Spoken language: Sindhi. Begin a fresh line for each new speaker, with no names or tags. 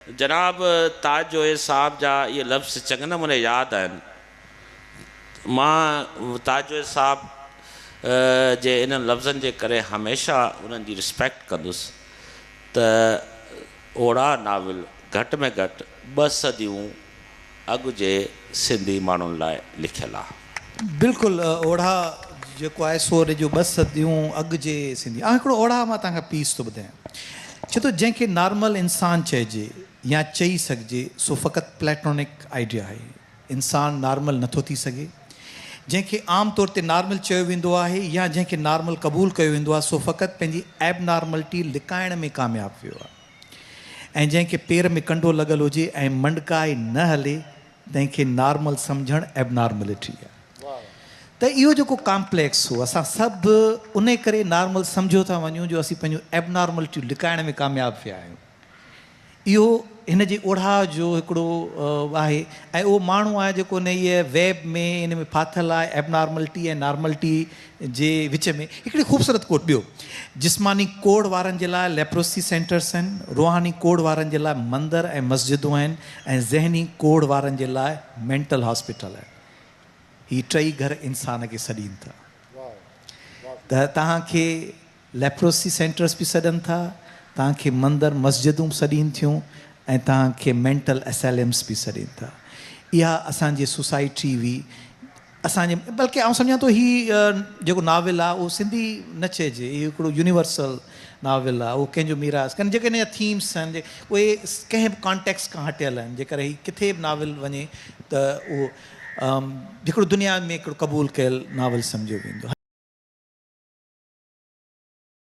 جناب تاج جويي صاحب جا اهي لفظ چڱي نموني ياد آهن. مان تاج جويي صاحب جي انهن لفظن جي ڪري هميشه انهن جي رسپيڪٽ ڪندس ته اوڙاهه ناول گهٽ ۾ گهٽ ٻه صديون اڳ جي سنڌي ماڻهن لاء لکيل آ. بلڪل اوڙها
جيڪو آهي سو ان جون ٻه صديون اڳ جي سنڌي آ. هڪڙو اوڙها مان توهان کي پيس ٿو ٻڌايان. چئي ٿو جنهن کي نارمل انسان چئجي يا چئي سگهجي سو فقط پليٽونڪ آئيڊيا آهي. انسان نارمل نٿو ٿي سگهي. جنهن کي عام طور تي نارمل چيو ويندو آهي يا جنهن کي نارمل قبول ڪيو ويندو آ سو فقط پنهنجي ايب نارملٽي لڪائڻ ۾ ڪامياب ويو آ. ۽ جنهن کي پير ۾ ڪنڊو لڳل هجي ۽ منڊڪاء نه هلي تنهن کي نارمل سمجهڻ ائبنارملٽي آهي ته اهو جيڪو ڪامپليڪس هو اسان سڀ ان ڪري نارمل سمجهيو ٿا وڃون جو اسين پنهنجون ائبنارملٽيون لڪائڻ ۾ ڪامياب ٿيا آهيون اهو هن جي اوڙها جو هڪڙو آهي ۽ اهو ماڻهو آهي جيڪو ان هيء ويب ۾ ان ۾ ڦاٿل آهي ائبنارملٽي ۽ نارملٽي جي وچ ۾ هڪڙي خوبصورت کوٽ ٻيو جسماني ڪوڙهه وارن جي لاء ليپروسي سينٽرس آهن، روحاني ڪوڙهه وارن جي لاء مندر ۽ مسجدون آهن ۽ ذهني ڪوڙهه وارن جي لاء مينٽل هاسپيٽل آهن. هي ٽئي گهر انسان کي سڏين ٿا ته توهان کي ليپروسي سينٽرس به سڏن ٿا، توهان کي مندر مسجدون به سڏين ٿيون ۽ توهان کي مينٽل اسيليمس به سڏين ٿا. اها اسان جي سوسائٽي هئي اسان جي بلڪه آئون سمجهان ٿو هي جيڪو ناول آهي اهو سنڌي نه چئجي اهو هڪڙو يونيورسل ناول آهي اهو ڪنهن جو ميراث ڪنهن جيڪي هن جا ٿيمس آهن اهي ڪنهن به ڪانٽيڪسٽ کان هٽيل آهن جيڪر هي ڪٿي به ناول وڃي ته اهو هڪڙو دنيا ۾ هڪڙو قبول ڪيل ناول سمجهيو ويندو.